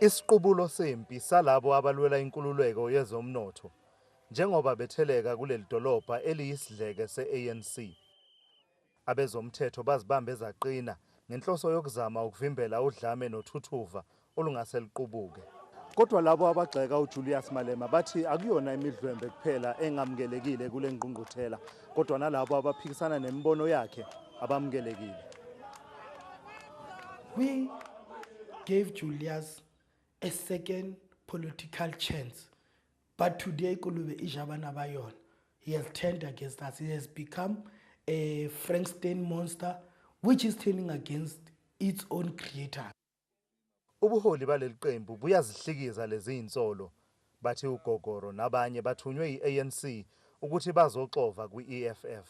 Isiqubulo sempi salabo abalwela inkululeko yezomnotho njengoba betheleka kuleli dolobha eliyisidleke se-ANC. Abezomthetho bazibambe zaqina ngenhloso yokuzama ukuvimbela udlame nothuthuva olungase luqubuke. Kodwa labo abagxeka uJulius Malema bathi akuyona imidlwembe kuphela engamukelekile kule ngqungquthela kodwa nalabo abaphikisana nemibono yakhe abamukelekile. We gave Julius a second political chance but today kulube ijabana bayona he has turned against us he has become a frankenstein monster which is turning against its own creator ubuholi baleli qembu buyazihlikiza lezi zinsolo bathi ugogoro nabanye bathunywe yi-anc ukuthi bazoxova kwi-eff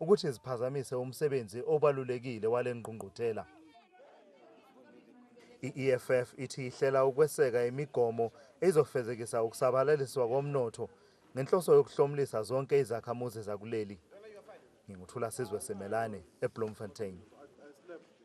ukuthi ziphazamise umsebenzi obalulekile wale ngqungquthela. I-EFF ithi ihlela ukweseka imigomo ezofezekisa ukusabalaliswa komnotho ngenhloso yokuhlomulisa zonke izakhamuzi zakuleli. Nginguthula Sizwe Semelane eBloemfontein.